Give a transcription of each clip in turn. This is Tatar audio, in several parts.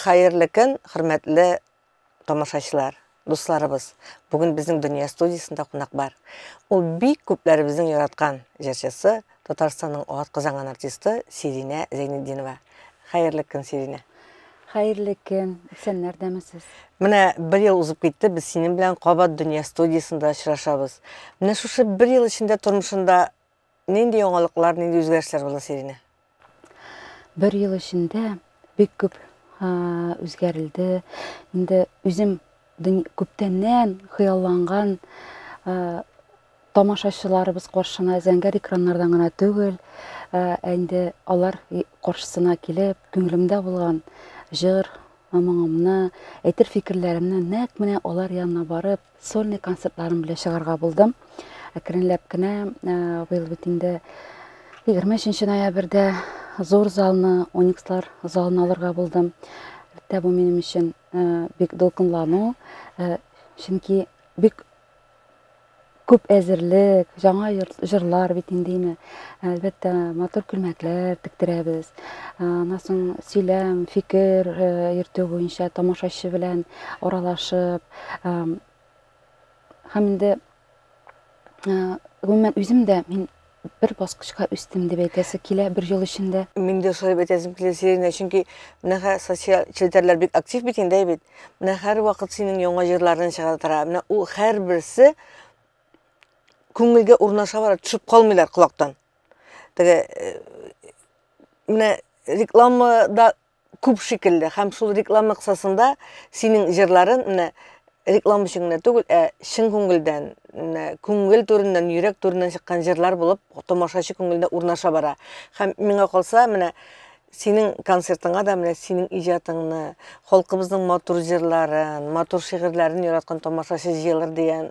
Хәерле көн, хөрмәтле тамашачылар, дусларыбыз. Бүген безнең дөнья студиясендә кунак бар. Ул бик күпләребезнең яраткан җырчысы Татарстанның ат казанган артисты Сиринә Зәйнетдинова. Хәерле көн, Сиринә. Хәерле көн. Исәннәрдәме сез? Менә бер ел узып китте, без синең белән Кабат дөнья студиясендә очрашабыз. Менә шушы бер ел эчендә тормышында нинди яңалыклар, нинди үзгәрешләр булды, Сиринә? Бер ел эчендә бик күп үзгәрелде. Инде үзем Күптәннән хыялланган тамашачыларыбыз каршына зәңгәр экраннардан гына түгел, ә инде алар каршысына килеп, күңелемдә булган җыр, моңымны, әйтер фикерләремне нәкъ менә алар янына барып, сольный концертларым белән чыгарга булдым. Әкренләп кенә быел бит инде 23 ноябрьдә зур залны, Оникслар залын алырга булдым. Әлбәттә, бу минем өчен Бик дулкынлану, чөнки бик күп әзерлек, жаңа җырлар бит инде име. Әлбәттә, матур күлмәкләр тектерәбез. Аннан соң сөйләм, фикер йөртү буенча тамашачы белән аралашып, һәм инде Гомумән, үзем дә мин бер баскычка үстем дип әйтәсе килә бер ел эчендә. Мин дә шулай дип әйтәсем килә, Сирина, чөнки менә хәзер социаль челтәрләр бик актив бит инде, әйбәт. Менә һәрвакыт синең яңа җырларың чыга тора. Менә ул һәрберсе күңелгә урнаша бара, төшеп калмыйлар колактан. Теге э, менә рекламада күп шикелле һәм шул реклама кысасында синең җырларын менә реклама өчен генә түгел, ә чын күңелдән, менә күңел түреннән, йөрәк түреннән чыккан җырлар булып тамашачы күңеленә урнаша бара. Һәм миңа калса, менә синең концертыңа да менә синең иҗатыңны, халкыбызның матур җырларын, матур шигырьләрен яраткан тамашачы җыелыр дигән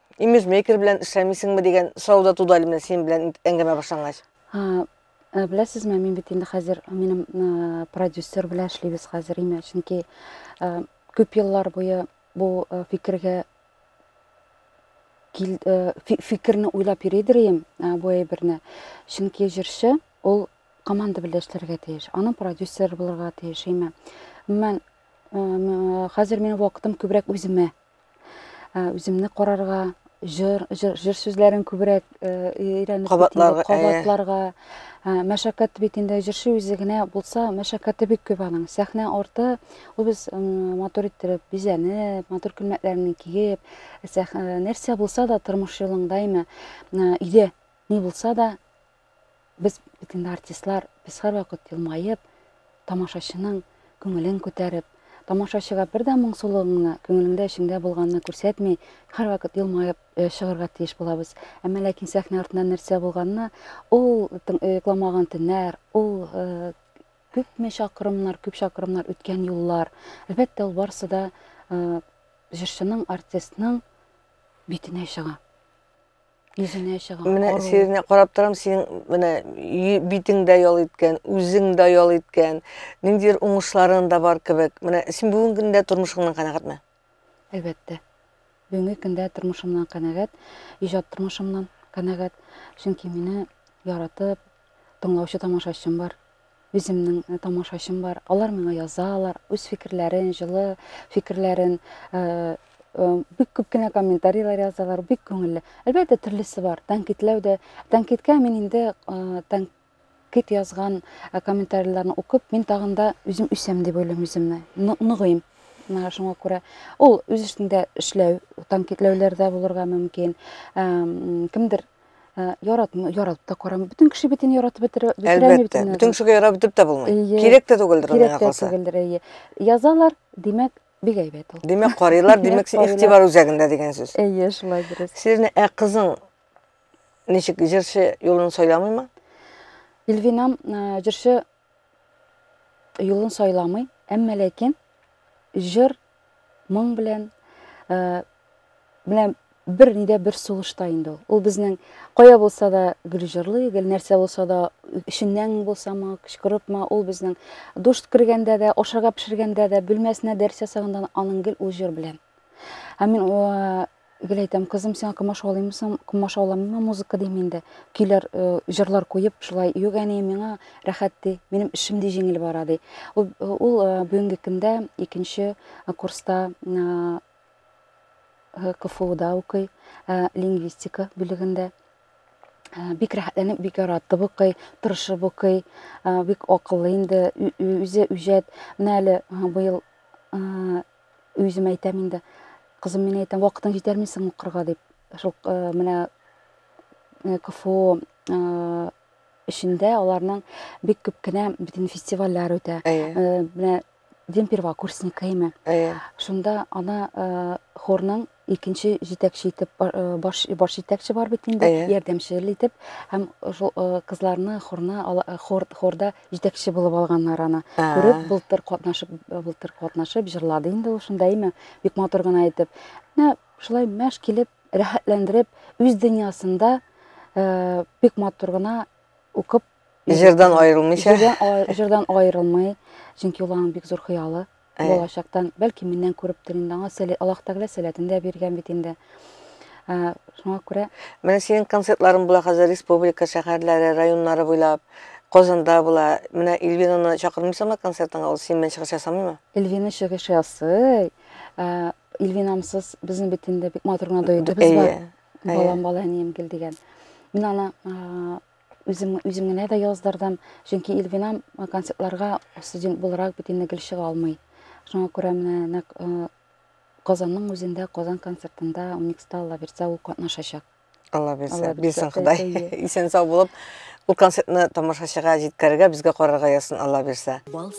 Имиджмейкер белән эшләмисеңме дигән сорау да туды әле менә синең белән әңгәмә башлангач. Э, беләсезме мин бит инде хәзер минем э, продюсер белән эшлибез хәзер име чөнки э, күп еллар буе бу фикергә кил, фикерне уйлап йөридер идем бу әйберне чөнки җырчы ул команда белән эшләргә тиеш аның продюсеры булырга тиеш име мен хәзер минем вакытым күбрәк үземә үземне карарга җыр җыр сүзләрен күбрәк өйрәнеп кабатларга кабатларга мәшәкать бит инде җырчы үзе генә булса мәшәкате бик күп аның сәхнә арты ул без матур иттереп бизәнеп матур күлмәкләрне киеп нәрсә булса да тормыш юлың даими өйдә ни булса да Без бит инде артистлар, без һәрвакыт елмаеп, тамашачының күңелен күтәреп, тамашачыга бер дә моңсулыгыңны, күңелеңдә, эчеңдә булганны күрсәтми, һәрвакыт елмаеп чыгарга тиеш булабыз. Әмма ләкин сәхнә артында нәрсә булганны, ул йокламаган төннәр, ул күпме чакрымнар, күп чакрымнар үткән юллар. Әлбәттә, ул барысы да җырчының, артистның битенә чыга. Йөзенә чыгам. Менә сине карап торам, синең менә битең дә ял иткән, үзең дә ял иткән, ниндидер уңышларың да бар кебек. Менә син бүгенге көндә тормышыңнан канәгатьме? Әлбәттә. Бүгенге көндә тормышымнан канәгать, иҗат тормышымнан канәгать. Чөнки мине яратып, тыңлаучы тамашачым бар. Үземнең тамашачым бар, алар миңа язалар, үз фикерләрен, җылы фикерләрен, бик күп кенә комментарийлар язалар, бик күңелле. Әлбәттә, төрлесе бар. Тәнкитләү дә, тәнкиткә мин инде тәнкит язган комментарийларны укып, мин тагын да үзем үсәм дип уйлыйм үземне, ныгыйм. Менә шуңа күрә ул үз эшендә эшләү, тәнкитләүләр дә булырга мөмкин. Кемдер Ә, яратмы, яратып та карамы? Бөтен кеше битен яратып бетерә, бетерә алмый Әлбәттә. бөтен Бөтен кешегә ярап бетеп тә булмый. Эйе. Кирәк тә түгелдер ул миңа Кирәк тә калса. түгелдер, әйе. Язалар, димәк, бик әйбәт ул. Димәк, карыйлар, Димәк, димәк, син карыйлар. игътибар үзәгендә дигән сүз. Әйе, шулай дөрес. Сирне, ә кызың ничек җырчы юлын сайламыймы? Илвинам ә, җырчы Юлын сайламый, әмма ләкин җыр, моң белән менә бер нидә бер сулышта инде ул. Ул безнең кая булса да гел җырлый, гел нәрсә булса да эшеннән булсамы, кычкырыпмы, ул безнең душ кергәндә дә, ашарга пешергәндә дә, бүлмәсенә дәрес ясаганда аның гел ул җыр белән. Һәм мин Гел әйтәм, кызым, сиңа комаш алыйммы соң? Комаш алам, миңа музыка дим инде. Көйләр, э, җырлар куеп, шулай юк әни, миңа рәхәт ди, минем эшем ди җиңел бара ди. Ул, э, ул э, бүгенге көндә икенче э, курста э, э, КФУда укый, э, лингвистика бүлегендә. Э, Бик рәхәтләнеп, бик яратып укый, тырышып укый, э, бик акыллы инде, ү- ү- үзе үҗәт. Менә әле э, быел э, Үзем әйтәм инде, кызым, мин әйтәм, вакытың җитәрме соң укырга дип. Шул э, менә э, КФУ э, эчендә аларның бик күп кенә битен фестивальләр үтә. Менә Демпирва курсника име. Шунда ана хорның икенче җитәкче итеп баш баш җитәкче бар бит инде ярдәмчел итеп һәм шул кызларны хорны хор хорда җитәкче булып алганнар аны күреп былтыр катнашып былтыр катнашып җырлады инде ул шунда әйме бик матур гына итеп менә шулай мәш килеп рәхәтләндереп үз дөньясында бик матур гына укып Җырдан аерылмыйча. Җырдан, җырдан аерылмый. Чөнки ул аның бик зур хыялы. Ә. Балачактан, бәлки миннән күрептер инде аңа сәләт, Аллаһ Тәгалә сәләтен дә биргән бит инде. Ә, шуңа күрә. Менә синең концертларың була хәзер республика шәһәрләре, районнары буйлап. Казанда була. Менә Эльвинаны чакырмыйсыңмы концертыңа? Ул синнән чыгыш ясамыймы? Эльвина чыгыш ясый. Ә, Эльвинамсыз безнең бит инде бик матур гына дуэтыбыз бар. Әйе. Балам, бала, әнием, гел дигән. Мин аны, Үзем, үзем генә дә яздырдым, чөнки Илвинам э, концертларга студент буларак бит инде гел чыга алмый. Шуңа күрә менә нәкъ э, Казанның үзендә, Казан концертында Уникста Алла бирсә ул катнашачак. Алла бирсә, Алла бирсә, бирсен Ходай. әйе. Исән сау булып, ул концертны тамашачыга җиткерергә, безгә карарга язсын Алла бирсә. Бал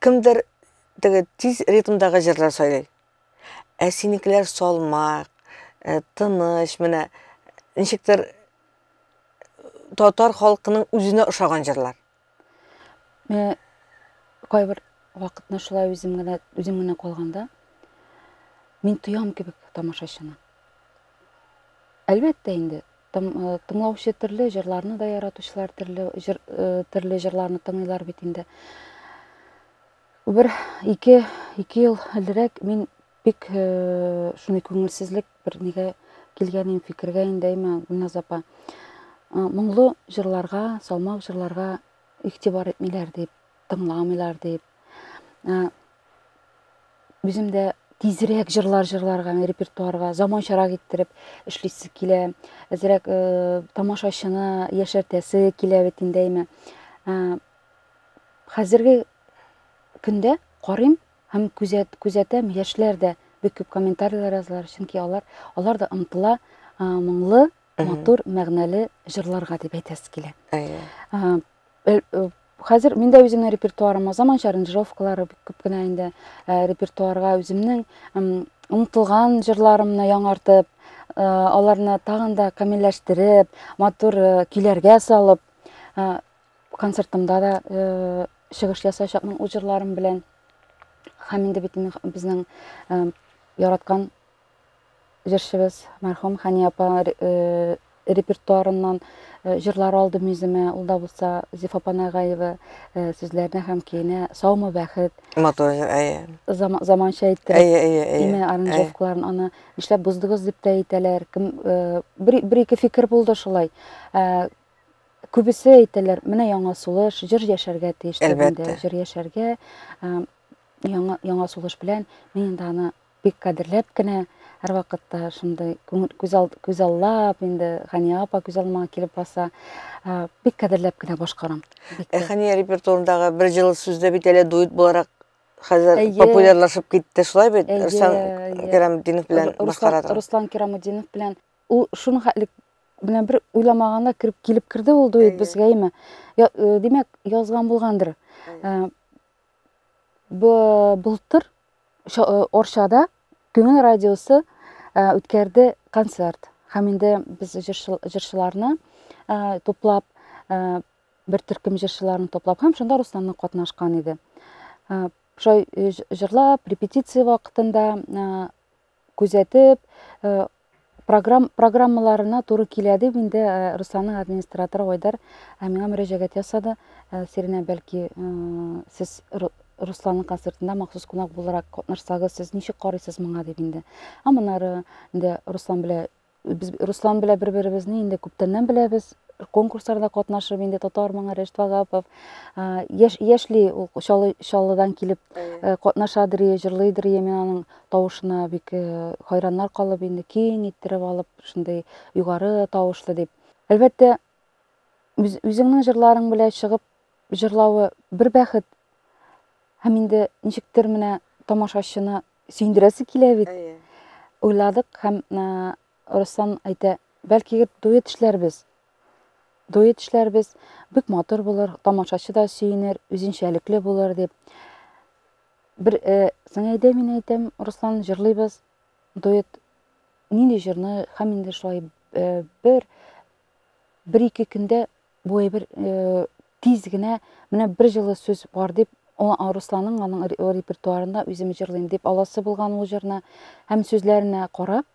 Кемдер теге тиз ритмдагы җырлар сайлый. Ә синекеләр салмак, э, тыныч, менә ничектер татар халкының үзенә ошаган җырлар. Менә кайбер вакытны шулай үзем генә үзем генә калганда мин тоям кебек тамашачыны. Әлбәттә инде, Тыңлаучы төрле, җырларны да яратучылар төрле, җыр, э, төрле җырларны тыңлыйлар бит инде. Бер ике, ике ел элрәк мин бик э, шундый күңелсезлек бер нигә килгән идем фикергә инде әйме Гүлназ апа. Э, моңлы җырларга, салмак җырларга игътибар итмиләр дип, тыңламыйлар дип. үзем дә тизрәк җырлар җырларга, аны репертуарга заманчарак иттереп эшлисе килә. Әзрәк э, тамашачыны яшәртәсе килә бит инде әйме. Э, хәзерге көндә карыйм һәм күзәт, күзәтәм, яшьләр дә бик күп комментарийлар язалар, чөнки алар, алар да ымтыла э, моңлы, матур, мәгънәле җырларга дип әйтәсе килә. Әйе. Э, Хәзер мин дә үземнең репертуарыма заманча аранжировкалары бик күп кенә инде репертуарга үземнең онытылган җырларымны яңартып, аларны тагын да камилләштереп, матур көйләргә салып, концертымда да чыгыш ясаячакмын үз җырларым белән. Һәм инде бит безнең яраткан Җырчыбыз мәрхүм Хәния апа репертуарыннан җырлар алдым үземә. Ул да булса Зифа Панагаева сүзләренә һәм көенә Саумы бәхет. Матур җыр, әйе. Зама, заманча иттереп. Әйе, әйе, әйе. Име аранжировкаларын аны нишләп буздыгыз дип тә әйтәләр. Кем бер, бер ике фикер булды шулай. Күбесе әйтәләр, менә яңа сулыш, җыр яшәргә тиеш. Әлбәттә. Җыр яшәргә яңа, яңа сулыш белән мин инде аны Бик кадерләп кенә, һәрвакытта шундый күзаллап, инде Хания апа күз алмаңа килеп баса, бик кадерләп кенә башкарам. Ә Хания репертуарындагы бер җылы сүздә бит әле дуэт буларак хәзер популярлашып китте, шулай бит? Руслан Керамутдинов белән башкарады. Руслан Керамутдинов белән. Ул шуны хәтлек менә бер уйламаганда кереп килеп керде ул дуэт безгә име. Э, димәк, язган булгандыр. Э, былтыр Орчада күңел радиосы үткәрде концерт. Һәм инде без җырчыларны туплап, бер төркем җырчыларны туплап, һәм шунда Русланны катнашкан иде. Шулай җырлап, репетиция вакытында күзәтеп, программ, программаларына туры килә дип инде Русланның администраторы Айдар миңа мөрәҗәгать ясады. Сиринә, бәлки, сез Русланның концертында махсус кунак буларак катнашсагыз, сез ничек карыйсыз моңа дип инде. Ә монары инде Руслан белән Без Руслан белән бер-беребезне инде күптәннән беләбез. Конкурсларда катнашып инде татар моңы Рәшит Вагапов. Яш яшьли ул Чаллы Чаллыдан килеп э, катнашадыр, җырлыйдыр, мин аның тавышына бик э, хайраннар калып инде киң иттереп алып, шундый югары тавышлы дип. Әлбәттә, үзеңнең җырларың белән чыгып җырлавы бер бәхет. Һәм инде ничектер менә тамашачыны сөендерәсе килә бит. Әйе. Уйладык һәм Руслан әйтә, бәлки дуэт эшләрбез. Дуэт эшләрбез, бик матур булыр, тамашачы да сөенер, үзенчәлекле булыр дип. Бер э, Саңәйдә мин әйтәм, Руслан җырлыйбыз, дуэт. Нинди җырны һәм инде шулай э, бер бер ике көндә Бу әйбер тиз генә менә бер җылы сүз бар дип Русланның аның репертуарында үзем җырлыйм дип аласы булган ул җырны һәм сүзләренә карап,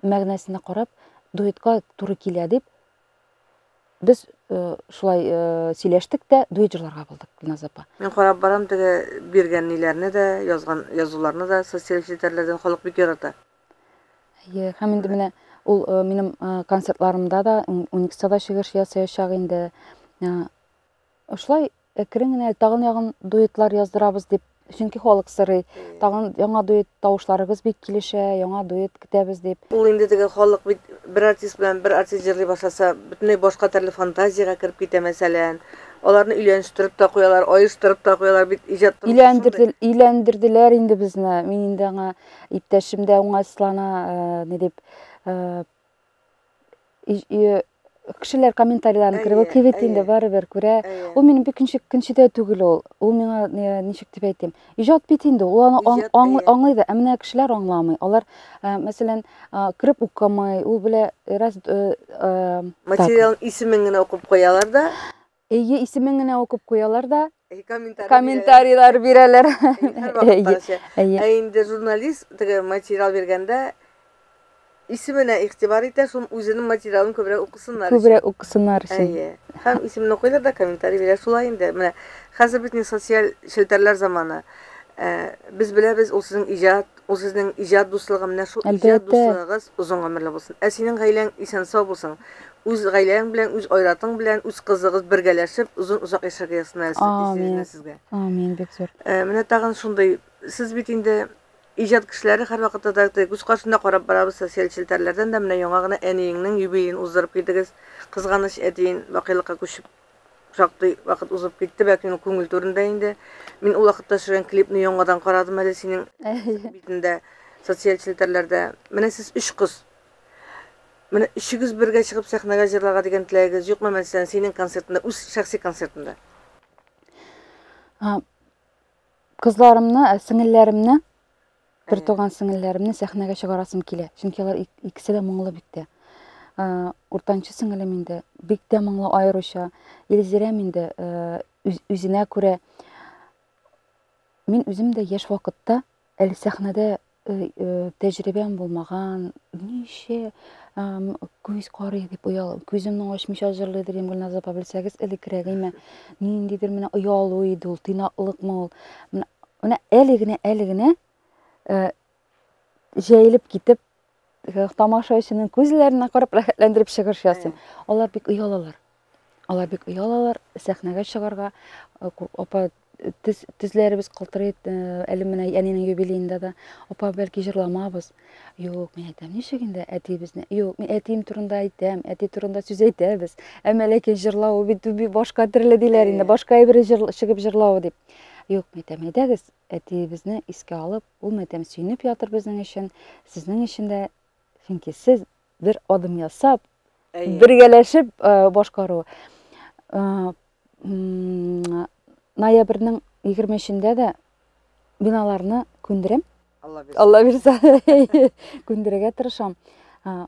мәгънәсенә карап дуэтка туры килә дип без э, шулай э, сөйләштек тә дуэт җырларга булдык Гөлназ апа. Мин карап барам теге биргән ниләрне дә, язган язуларны да социаль челтәрләрдән халык бик ярата. Әйе, һәм инде менә ул э, минем э, концертларымда да, Уникста да чыгыш ясаячак инде. Э, Шулай әкрен генә тагын ягын дуэтлар яздырабыз дип, чөнки халык сорый. Тагын яңа дуэт тавышларыгыз бик килешә, яңа дуэт көтәбез дип. Ул инде теге халык бит бер артист белән бер артист җырлый башласа, бөтенләй башка төрле фантазиягә кереп китә мәсәлән. Аларны өйләнештереп тә куялар, аештырып та куялар бит иҗат тормышында. Өйләндерделәр инде безне. Мин инде аңа иптәшем дә уңайсызлана ни дип кешеләр комментарийларын кереп укый бит инде барыбер күрә ул минем бик көнче дә түгел ул ул миңа ничек дип әйтим иҗат бит инде ул аны аңлый да ә менә кешеләр аңламый алар мәсәлән кереп укымый ул белә раз материалның исемен генә укып куялар да Эйе, исемен генә укып куялар да комментарийлар бирәләр. Ә инде журналист теге материал биргәндә исеменә игътибар итә, шуны үзенең материалын күбрәк укысыннар өчен. Күбрәк укысыннар өчен. Әйе. Һәм исемен укыйлар да комментарий бирә. Шулай инде. Менә хәзер бит ни социаль челтәрләр заманы. Без беләбез, ул сезнең иҗат, Ул сезнең иҗат дуслыгы, менә шул иҗат дуслыгыгыз озын гомерле булсын. Ә синең гаиләң исән-сау булсын. Үз гаиләң белән, үз айратың белән, үз кызыгыз бергәләшеп, озын-озак яшәргә язсын әле Сизина сезгә. Амин, бик зур. Э, менә тагын шундый, сез бит инде иҗат кешеләре һәрвакытта да күз каршында карап барабыз социаль челтәрләрдән дә, менә яңа гына әниеңнең юбилеен уздырып килдегез. Кызганыч, әтиен бакыйлыкка күчеп Шактый вакыт узып китте, бәлки минем күңел түрендә инде. Мин ул вакытта төшергән клипны яңадан карадым әле синең битендә, социаль челтәрләрдә. Менә сез өч кыз. Менә өчегез бергә чыгып сәхнәгә җырларга дигән теләгегез юкмы мәсәлән синең концертында, үз шәхси концертында? Кызларымны, ә, сеңелләремне Бертуган сеңелләремне сәхнәгә чыгарасым килә, чөнки алар икесе дә моңлы бик тә. Уртанчы сеңелем инде бик тә моңлы аеруча. Илзирәм инде үзенә күрә. Мин үзем дә яшь вакытта әле сәхнәдә тәҗрибәм булмаган, ничә күз карый дип оялып, күземне ачмыйча җырлый дигән Гөлназ апа белсәгез, элеккерәгеме, ниндидер менә оялу иде ул, тыйнаклыкмы ул. Менә әле генә, әле генә э, җәелеп китеп, э, тамашачының күзләренә карап рәхәтләндереп чыгыш ясыйм. Алар бик оялалар. Алар бик оялалар сәхнәгә чыгарга. Э, апа тез, тезләребез калтырый, әле менә әнинең юбилеенда да. Апа, бәлки җырламабыз. Юк, мин әйтәм, ничек инде әтиебезне? Юк, мин әтием турында әйтәм, әти турында сүз әйтәбез. Әмма ләкин җырлау бит башка төрле диләр инде, башка әйбер чыгып җырлау дип. Юк, матәм әйдәгез, әтиебезне искә алып, ул матәм сөенеп ятыр безнең өчен, сезнең өчен дә, чөнки сез бер адым ясап, Әйе. бергәләшеп э, башкару. Э, м, Ноябрьнең 23-ендә дә биналарны күндерәм. Алла бирсен. Алла бирса, күндерергә тырышам. Э,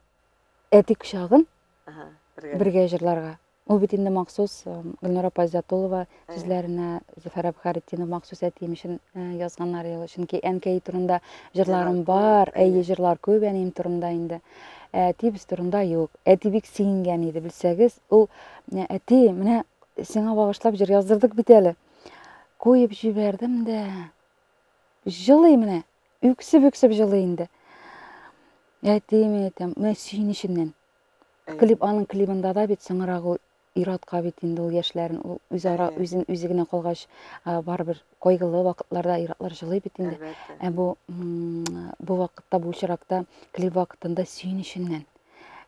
Әти кочагын Ага, бергә. бергә җырларга. Ул бит инде махсус Гөлнара апа Зятулова сүзләренә Зөфәр Әбхәретдинов махсус әтием өчен язганнар ел. Чөнки әнкәй турында җырларым бар, әйе, җырлар күп әнием турында инде. Әтибез турында юк. Әти бик сөенгән иде, белсәгез, ул әти, менә сиңа багышлап җыр яздырдык бит әле. Куеп җибәрдем дә. Җылый менә, үксеп-үксеп җылый инде. Әтием әйтәм, менә сөенеченнән. Клип аның клибында да бит соңрак ул иратка бит инде ул яшьләрен ул үзара үзен үзе генә калгач барыбер кайгылы вакытларда иратлар җылый бит инде. Ә бу бу вакытта бу очракта клип вакытында сөенеченнән.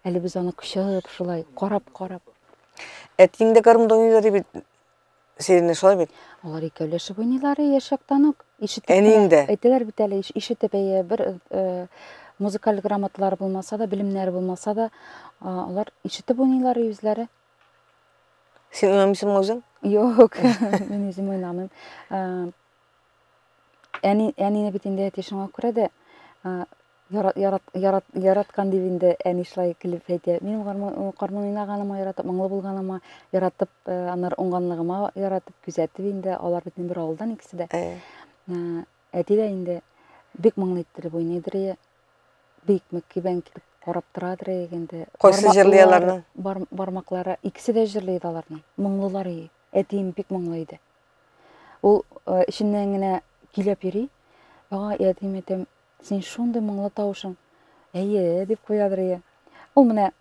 Әле без аны кочып шулай карап карап. Әтиң дә гармунда уйный бит. Сиренне шулай бит. Алар икәүләшеп уйныйлар яшьяктан үк. Ишетеп Әниең дә. Әйтәләр бит әле, ишетеп әйе, бер э, музыкаль грамоталары булмаса да, белемнәре булмаса да, алар ишетеп уйныйлар үзләре. Син уйнамыйсыңмы үзең? Юк, мин үзем уйнамыйм. Әни, әнине бит инде әти шуңа күрә дә ярат, ярат, ярат, яраткан дип инде әни шулай көлеп әйтә. Минем кармын уйнаганыма яратып, моңлы булганыма яратып, аннары уңганлыгыма яратып, күзәтеп инде алар бит бер авылдан икесе дә. Әти дә инде бик моңлы иттереп уйныйдыр ие. Бик мөкибән килеп карап торадыр ие инде. Кайсы җырлый аларның? Бармаклары икесе дә җырлый иде аларның. Моңлылар ие. Әтием бик моңлы иде. Ул эченнән генә көйләп йөри. Ага, я дим әйтәм, син шундый моңлы тавышың. Әйе, дип куядыр ие. Ул менә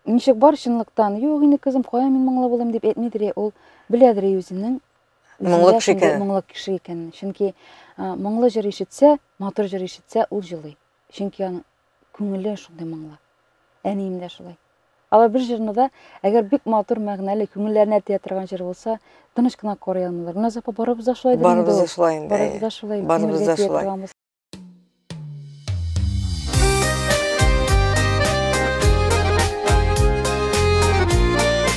ничек бар чынлыктан, юк инде кызым, кая мин моңлы булыйм дип әйтмидер ие. Ул беләдер ие үзенең моңлы кеше икәнен. Моңлы кеше икәнен. Чөнки моңлы җыр ишетсә, матур җыр ишетсә, ул җылый. Чөнки аның күңеле шундый моңлы. Әнием дә шулай. Алар бер җырны да, әгәр бик матур, мәгънәле, күңелләренә тия торган җыр булса, тыныч кына карый алмыйлар. Гөлназ апа, барыбыз да шулай инде. Барыбыз да шулай инде. Барыбыз да шулай. Барыбыз да шулай.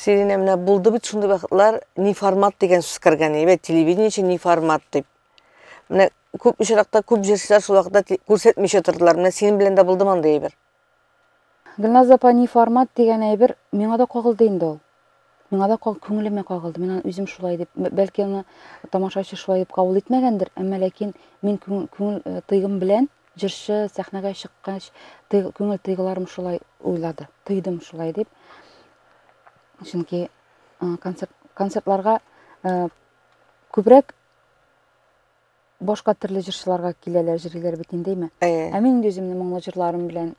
Сиринә менә булды бит шундый вакытлар ни формат дигән сүз кергән иде, телевидение өчен ни формат дип. Менә күп очракта күп җырчылар шул вакытта күрсәтмичә тордылар. Менә синең белән дә булды мондый әйбер. Гөлназ апа, ни формат дигән әйбер, миңа да кагылды инде ул. Миңа да каг, күңелемә кагылды. Мин аны үзем шулай дип, бәлки аны тамашачы шулай дип кабул итмәгәндер, әмма ләкин мин күң, күңел тойгым белән, җырчы сәхнәгә чыккач, тый, күңел тойгыларым шулай уйлады, тойдым шулай дип. Чөнки концерт, концертларга күбрәк Башка төрле җырчыларга киләләр, җырлыйлар бит инде, әйме? Ә мин инде үземне моңлы җырларым белән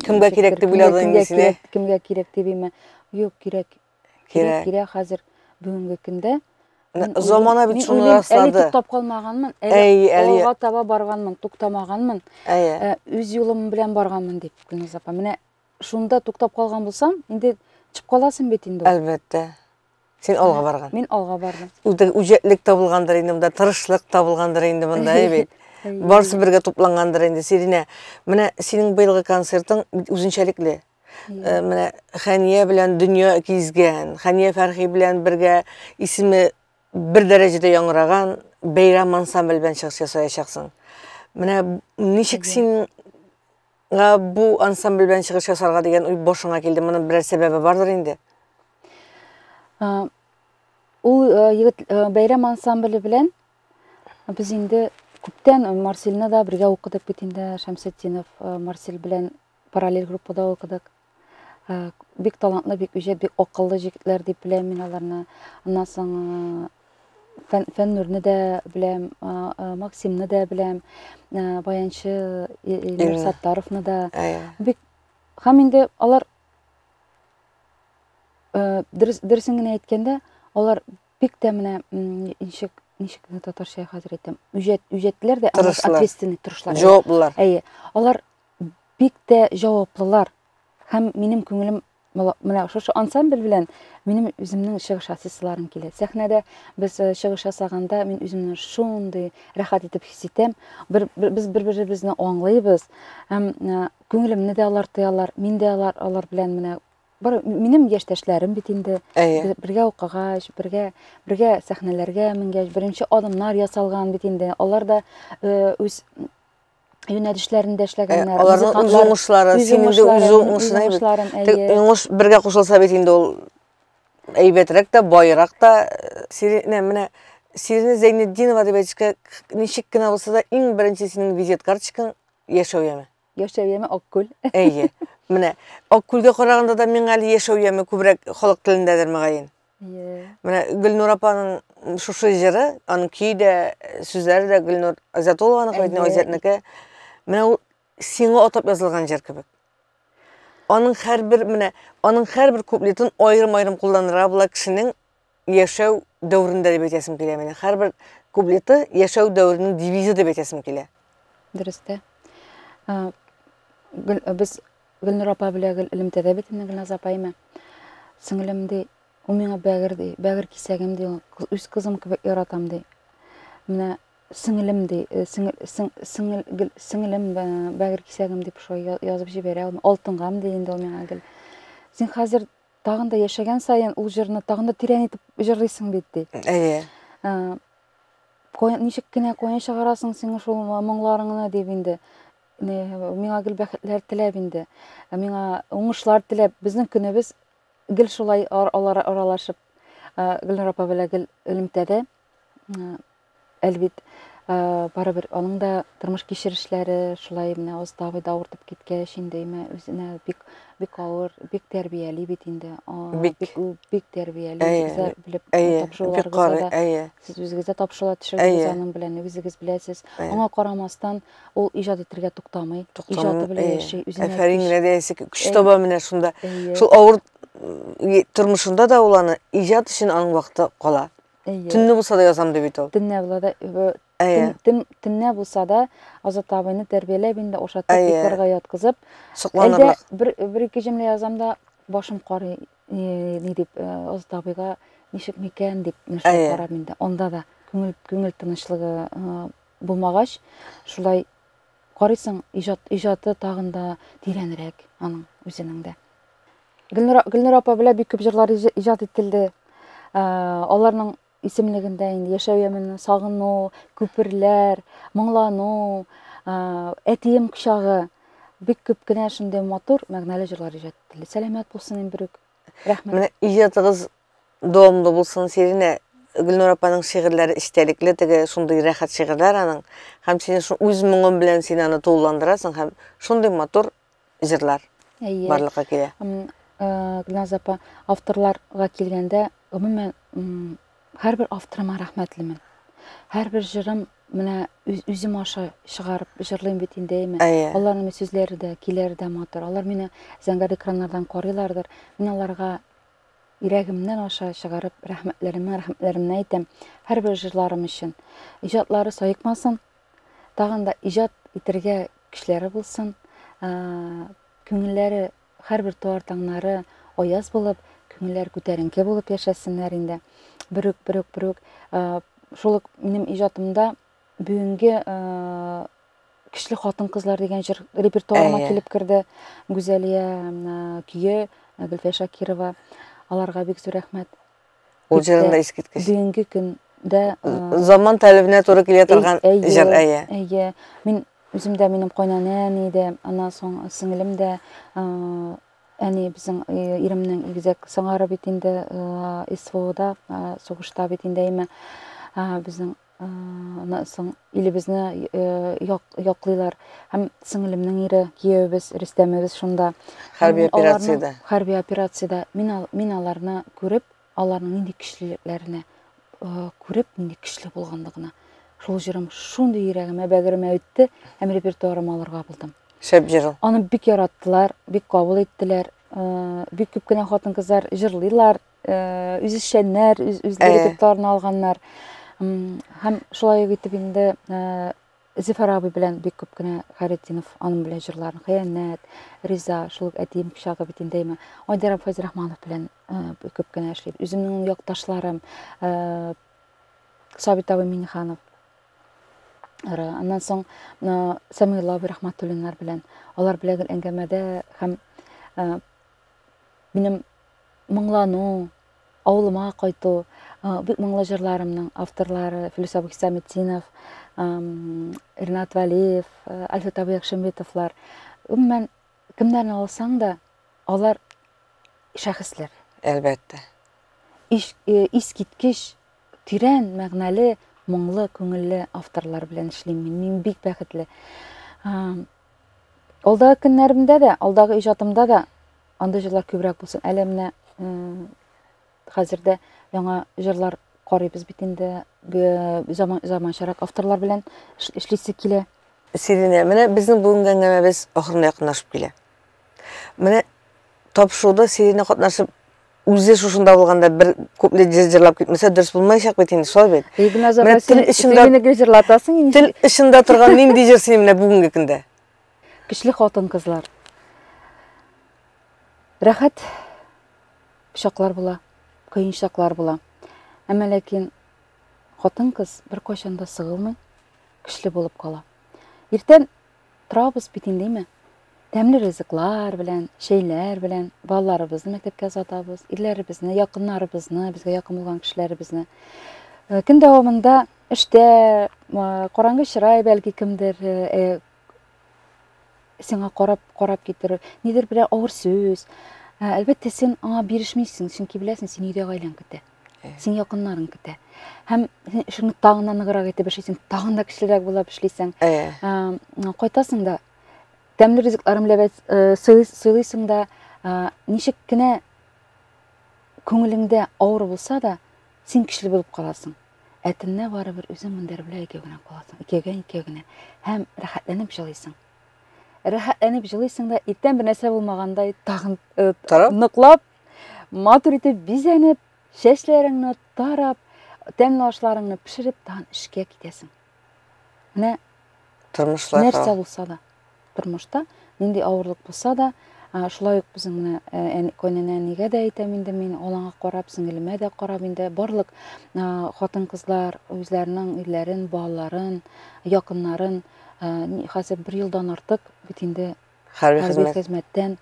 кемгә кирәк дип уйладың инде сине? Кемгә кирәк дип име? Юк, кирәк. Кирәк, кирәк хәзер бүгенге көндә. Замана бит шуны раслады. Әле туктап калмаганмын, әле алга таба барганмын, туктамаганмын. Әйе. Үз юлым белән барганмын дип, Гүлназ апа. Менә шунда туктап калган булсам, инде чыгып каласың бит инде. Әлбәттә. Син алга барган. Мин алга бардым. Үзде үҗәтлек табылгандыр инде монда, тырышлык табылгандыр инде монда, әйбәт. Барсы бергә туплангандыр инде. Сиринә, менә синең быелгы концертың үзенчәлекле. Э, менә Хәния белән дөнья кизгән, Хәния Фәрхи белән бергә исеме бер дәрәҗәдә яңгыраган бәйрәм ансамбль белән чыгыш ясаячаксың. Менә ничек син Ә, бу ансамбль белән чыгыш ясарга дигән уй башыңа килде. Моның берәр сәбәбе бардыр инде. Ә, Ул э, егет э, бәйрәм ансамбле белән без инде күптән Марсельны да бергә укыдык бит инде Шәмсетдинов э, Марсель белән параллель группада укыдык. Бик талантлы, бик үҗәт, бик акыллы җегетләр дип беләм мин аларны. Аннан соң фән, Фәннүрне дә беләм, Максимны да беләм, баянчы Илнур Саттаровны да. Бик һәм инде алар дөресен генә әйткәндә, алар бик тә менә ничек ничек татарча хәзер әйтәм, үҗәт, үҗәтләр дә, ответственный тырышлар. Җаваплылар. Әйе. Алар бик тә җаваплылар. Һәм минем күңелем менә шушы ансамбль белән минем үземнең чыгыш ясыйсыларым килә. Сәхнәдә без э, чыгыш ясаганда мин үземне шундый рәхәт итеп хис итәм. Бер, бер, без бер-беребезне аңлыйбыз. Һәм э, күңелемне дә алар тоялар, мин дә алар, алар белән менә бар минем яшьтәшләрем бит инде Әйе. бергә укыгач бергә бергә сәхнәләргә менгәч беренче адымнар ясалган бит инде алар да э, үз юнәлешләрендә эшләгәннәр. Аларның үз уңышлары, синең дә үз уңышың әйбәт. Уңыш бергә кушылса бит инде ул әйбәтрәк тә, байрак та. Сиринә, менә Сиринә Зәйнетдинова дип әйтешкә, ничек кенә булса да, иң беренче синең визит карточкаң яшәү яме. Яшәү яме Аккүл. Әйе. Менә Аккүлгә караганда да миңа әле яшәү яме күбрәк халык телендәдер мөгаен. Менә Гөлнур апаның шушы җыры, аның көе дә, сүзләре дә Гөлнур Азатулованың кебек, Азатныкы. Менә ул сиңа атап язылган җыр кебек. Аның һәрбер менә, аның һәрбер куплетын аерым-аерым кулланырга була кешенең яшәү дәврендә дип әйтәсем килә менә. Һәрбер куплеты яшәү дәвренең девизы дип әйтәсем килә. Дөрестә. Э, э, без Гөлнур апа белә гел элемтәдә бетемне Гөлназ апай мә, сеңлем, ди, ул миңа бәгер, ди, бәгер кисәгем, ди, ул үз кызым кебек яратам, ди. Менә сеңлем, ди, э, сеңел, сең, сеңел, гел, сеңлем, бә, бәгер кисәгем дип шулай я- язып җибәрә ул. Алтынгам, ди инде ул миңа гел. Син хәзер тагын да яшәгән саен ул җырны тагын да тирән итеп җырлыйсың бит, ди. Әйе. Э, кая- ничек кенә каян чыгарасың сиңа шул моңларыңны дип инде. Миңа гел бәхетләр теләп инде, миңа уңышлар теләп, безнең көнебез гел шулай алар аралашып, Гөлнара апа белән гел элемтәдә. Әлбит, барыбер аның да тормыш кичерешләре шулай менә оста абыйда авыртып киткәч, инде имә үзенә бик бик авыр, бик тәрбияли бит инде. Бик бик тәрбияли, үзләр белеп тапшыруларыгызда. Сез үзегез дә тапшырулар төшердегез аның белән, үзегез беләсез. Аңа карамастан, Ул иҗат итәргә туктамый. Иҗаты белән яши, үзенә. Әфәрин генә диясе көч таба менә шунда. Шул авыр тормышында да ул аны иҗат өчен аның вакыты кала. Төнне булса да язам дип бит ул. Төнне була да төнне булса да Азат абыйны тәрбияләп инде ашатып, йокларга яткызып, әлдә бер бер ике җөмлә язам да башым карый ни дип Азат абыйга ничек микән дип карап инде. Анда да күңел күңел тынычлыгы булмагач, шулай карыйсың, иҗат, иҗаты тагын да тирәнрәк аның үзенең дә. Гөлнур, Гөлнур апа белән бик күп җырлар иҗат ителде. Ә, аларның исемлегендә инде яшәү ямене, сагыну, күперләр, моңлану, ә, әтием кочагы бик күп кенә шундый матур мәгънәле җырлар иҗат ителде. Сәламәт булсын Эмбрюк. Рәхмәт. Менә иҗатыгыз Дәвамлы булсын, Сиринә. Гөлнур апаның шигырьләре эчтәлекле, теге шундый рәхәт шигырьләр аның. Һәм син үз моңың белән син аны тулыландырасың һәм шундый матур җырлар барлыкка килә. Гөлназ апа, авторларга килгәндә, гомумән, һәрбер авторыма рәхмәтлемен. Һәрбер җырым менә үзем аша чыгарып җырлыйм бит инде, әйме? Аларның сүзләре дә, көйләре дә матур. Алар мине зәңгәр экраннардан карыйлардыр. Мин аларга Йөрәгемнән аша чыгарып, рәхмәтләремне рәхмәтләремне әйтәм һәрбер җырларым өчен. Иҗатлары саекмасын, тагын да иҗат итергә көчләре булсын, күңелләре һәрбер туар таңнары аяз булып, күңелләр күтәренке булып яшәсеннәр инде. Бөрек, бөрек, бөрек. Шул ук минем иҗатымда Бүгенге Кичле хатын-кызлар дигән җыр репертуарыма килеп керде. Гүзәлия көе, Гөлфия Шакирова. Аларга бик зур рәхмәт. Ул җырын да искиткеч. Бүгенге көндә заман таләбенә туры килә торган җыр, әйе. Әйе. Мин үзем дә минем кайнанәм иде, аннан соң сеңлем дә әни безнең иремнең игезәк сыңары бит инде СВОда, сугышта бит инде әйме. Безнең Аннан соң илебезне яклыйлар. Һәм сеңлемнең ире, киявебез, Рөстәмебез шунда. Хәрби операциядә. Хәрби операциядә. Мин, мин аларны күреп, аларның нинди көчлелекләренә күреп, нинди көчле булганлыгына. Шул җырым шундый йөрәгемә, бәгыремә үтте, һәм репертуарыма алырга булдым. Шәп җыр. Аны бик яраттылар, бик кабул иттеләр. Бик күп кенә хатын-кызлар җырлыйлар, үзешчәннәр, үз үзләре дипломнарны алганнар. Һәм шулай ук итеп инде Зифар абый белән бик күп кенә Хәретдинов аның белән җырларын Хыянәт, Риза, шул ук әтием кичагы бит инде имә. Айдарам Фазрахманов белән бик күп кенә эшлибез. Үземнең якташларым Сабит абый Миниханов. Аннан соң Самилла абый Рахматуллиннар белән алар белән әңгәмәдә һәм минем Моңлану, авылыма кайту, бик моңлы җырларымның авторлары Филүсә Хисаметдинов, Ринат Вәлиев, Альфред абый Якшембетовлар. Гомумән, кемнәрне алсаң да, алар шәхесләр. Әлбәттә. Искиткеч, тирән мәгънәле, моңлы, күңелле авторлар белән эшлим мин. Мин бик бәхетле. Алдагы көннәремдә дә, алдагы иҗатымда да андый җырлар күбрәк булсын. Әле менә хәзердә яңа җырлар карыйбыз бит инде. Заман заманчарак авторлар белән эшлисе килә. Сиринә, менә безнең бүгенге әңгәмәбез ахырына якынлашып килә. Менә тапшыруда Сиринә катнашып Үзе шушында булганда бер күпле җырлап китмәсә дөрес булмаячак бит инде, шулай бит. Игназа Менә тел эчендә мине гел җырлатасың инде. Тел эчендә торган нинди җыр синең менә бүгенге көндә? Көчле хатын кызлар. Рәхәт чаклар була, кыен чаклар була. Әмма ләкин хатын кыз беркайчан да сыгылмый, көчле булып кала. Иртән Торабыз бит инде, әйме? Тәмле ризыклар белән, чәйләр белән балаларыбызны мәктәпкә озатабыз, ирләребезне, якыннарыбызны, безгә якын булган кешеләребезне. Э, көн дәвамында эштә, караңгы чырай бәлки кемдер э, э, сиңа карап, карап китер, нидер берәр авыр сүз. Әлбәттә, син аңа бирешмисең, чөнки беләсең, син өйдә гаиләң көтә. син якыннарың китә һәм син эшеңне тагын да ныграк итеп эшлисең тагын да кечерәк булып эшлисең кайтасың да тәмле ризыкларын ләбәт сыйлыйсың да ничек кенә күңелеңдә авыр булса да син көчле булып каласың ә төнлә барыбер үзең мендәр белән икәү генә каласың икәүгә икәү генә һәм рәхәтләнеп җылыйсың рәхәтләнеп җылыйсың да иртән бернәрсә булмагандай тагын ныклап Матур итеп бизәнеп, чәчләреңне тарап, тәмле ашларыңны пешереп, тагын эшкә китәсең. Менә тормышлар нәрсә булса да, тормышта нинди авырлык булса да, шулай ук безнең менә э, кайнана әнигә дә әйтәм инде мин алаңа карап сеңелемә дә карап инде барлык хатын кызлар үзләренең өйләрен балаларын якыннарын хәзер бер елдан артык бит инде Хәрби хезмәт. хезмәттән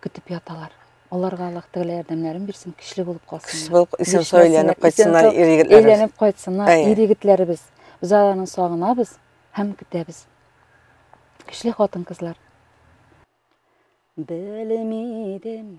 көтеп яталар. Аларга Аллаһ Тәгалә ярдәмнәрен бирсен, көчле булып калсыннар. Көчле булып исән сау әйләнеп кайтсыннар ир егетләребез. Әйләнеп кайтсыннар ир егетләребез. Без аларны сагынабыз һәм көтәбез. Көчле хатын-кызлар. Белмидем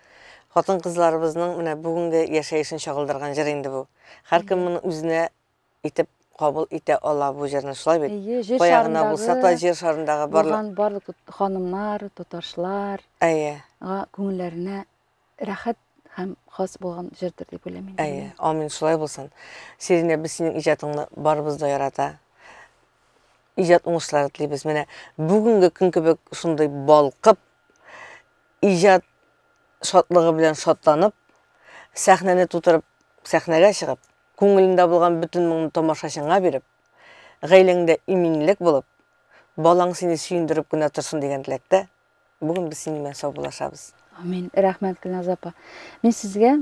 Хатын-кызларыбызның менә бүгенге яшәешен чагылдырган җыр инде бу. Һәркем моны үзенә итеп кабул итә ала бу җырны, шулай бит? Әйе, җир Кая гына булса да, җир шарындагы барлык барлык ханымнар, татарчылар, әйе, күңелләренә рәхәт һәм хас булган җырдыр дип уйлыйм инде. Әйе, амин, шулай булсын. Сиринә, без синең иҗатыңны барыбыз да ярата. Иҗат уңышлары телибез. Менә бүгенге көн кебек шундый балкып, иҗат шатлыгы белән шатланып, сәхнәне тутырып, сәхнәгә чыгып, күңелендә булган бөтен моңны тамашачыңа биреп, гаиләңдә иминлек булып, балаң сине сөендереп кенә торсын дигән теләктә, бүген без синең белән саубуллашабыз. Амин. Рәхмәт, Гөлназ апа. Мин сезгә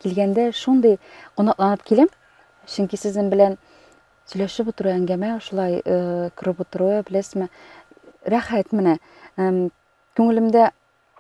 килгәндә шундый кунакланып киләм, чөнки сезнең белән Сөйләшеп утыру әңгәмә шулай күреп утыру, беләсезме, рәхәт менә. Күңелемдә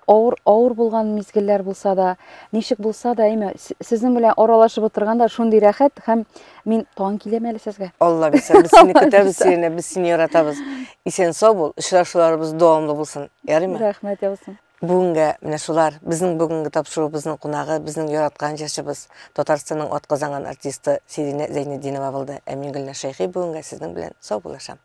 авыр авыр булган мизгелләр булса да ничек булса да әйме сезнең белән аралашып утырганда шундый рәхәт һәм мин тагын киләм әле сезгә алла бирсә без сине көтәбез сине без сине яратабыз исән сау бул очрашуларыбыз дәвамлы булсын ярыймы рәхмәт яусын Бүгенгә менә шулар, безнең бүгенге тапшыруыбызның кунагы, безнең яраткан җырчыбыз, Татарстанның атказанган артисты Сиринә Зәйнетдинова булды. Ә мин Гөлназ Шәйхи бүгенгә сезнең белән саубуллашам.